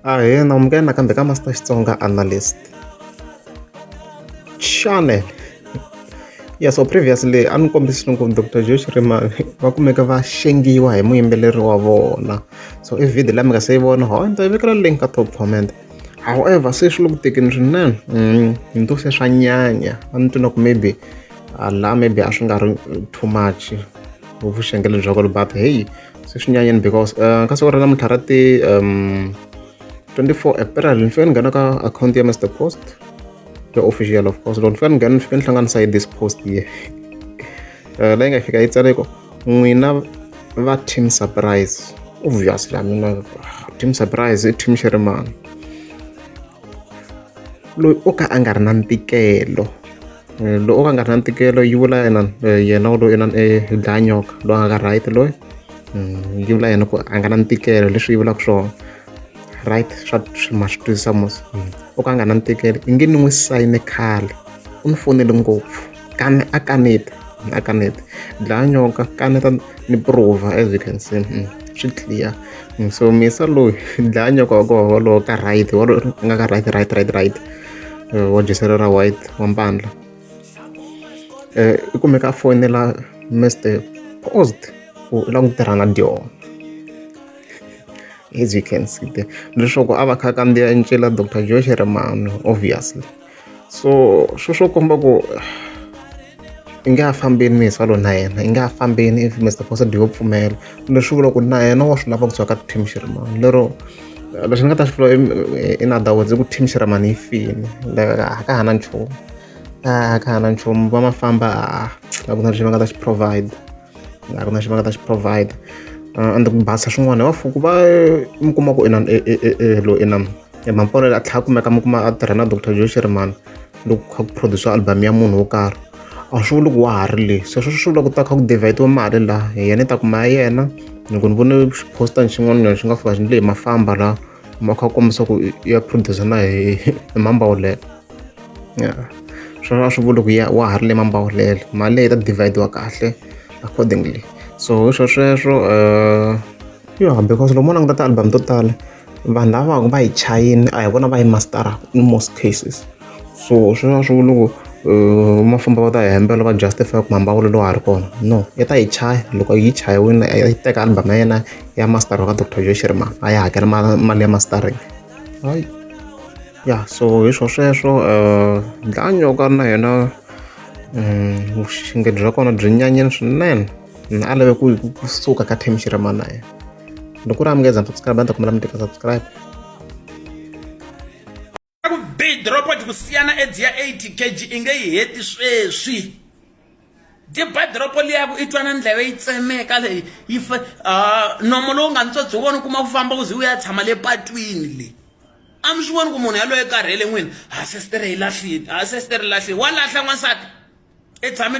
ahena munghena nakambe ka master xitsonga analyst channel ya so previously a ni kombisi loko dr josh rima va kumeka va xengiwa hi muyimbeleri wa vona so i video la mi nga se yi vona ho ni ta yi vekela link ka top comment however se swi le ku tekeni swinene mm, ni to se swa nyanya a ni twi na ku maybe la maybe a swi nga ri too much vuxengele bya kolo but heyi se swi nyanyini because um ka siku ra namuntlha ra ti um twenty four april ni fike ni nghena ka akhawunti ya mr post ya official of course loko ni fika ni nghena ni fike ni hlanganisa yi this post ye eh, leyi nga fika yi tsaleko n'wina va team surprise obviously a mina team surprise i team xerimani loyi o ka a nga ri na ntikelo loyi o ka a nga ri na ntikelo yi vula yena yena u lo inana e dlaya nyoka loyi a nga ka right loyi yi vula yena ku a nga na ntikelo leswi yi vulaka swona right swa ma swi twisisa mos o ka a nga na ntikelo i nge ni n'wi sayine khale u ni fonele ngopfu. kane a kaneta a kaneta dlaya nyoka kaneta ni prova as you can see mm, swi clear mm, so misa loyi dlaya nyoka wa koho wolowo ka right wolowo nga ka right right right right eh, wa jiselo ra white wa mpandla um i kumeka a fonela mr post ku u lava ku tirha na dyona as you can see there leswaku a va kha kandziya ncila dr josh rimano obviously so swo swo komba ku i nge a fambini mi hi salo na yena i nge a fambini if mr posad yo pfumela leswi vula ku na yena wa swi lava ku tswaka team xirimani lero lexi ni nga ta xi vula in other words i ku team xirimani yi fini a ka hana nchumu a ka hana nchumu va ma famba a ku na lexi va nga ta xi provide a ku na xi va nga ta xi provide uh, and ku basa swin'wana wa fuku va mi kuma ku inani e, e, e, elo inani emampolo a tlhela kumeka mi kuma a tirha na dr joe shirimani loko kha ku produce album ya munhu wo karhi a swi vuli ku wa ha ri le sweswo swi vula ku ta kha ku divhayitiwa mali laha hi yena ta kuma ya yena loko ni vone xiposta ni xin'wana nyana xi nga fika xi ni leyi mafamba laha ma kha kombisa ku ya producer na hi hi mambawu leyo ya swona a swi vuli ku ya wa ha ri le mambawulelo mali leyi ta divide-wa kahle accordingly so hi swo sweswo um yo because loko mo languta ti-album to tala vanhu lava va ku va yi chayini a hi vona va yi mastara in most cases so sweswo a swi vuli ku um ma famba va ta hi hembela va justify ku mambawulelo wa ha ri kona no yi ta yi chaya loko yi chayiwile yi teka album ya yena ya mastara ka doctor joe shirima a yi hakela mali ya mastering hayi ya so hi swo sweswo dlanyoka na yena vuxinge bya kona byi nyanyeni swinene na a lave ku yi kusuka ka team xi rima na yena loko ri amukeza subscribe a ni ta kombela mi teka subscribe ku bidropod ku siyana edzi ya 80 kg i nge yi heti sweswi diba doropo liyaku i twana ndleve yi tsemeka leyi yi fa uh, nomo lowu nga ntswa byi vona kuma ku famba ku ze u ya tshama le patwini leyi a mi swi voni ku munhu yaloye karhele n'wini ha sestere yi lahlile ha sestere lahlile wa lahla n'wansati i tshame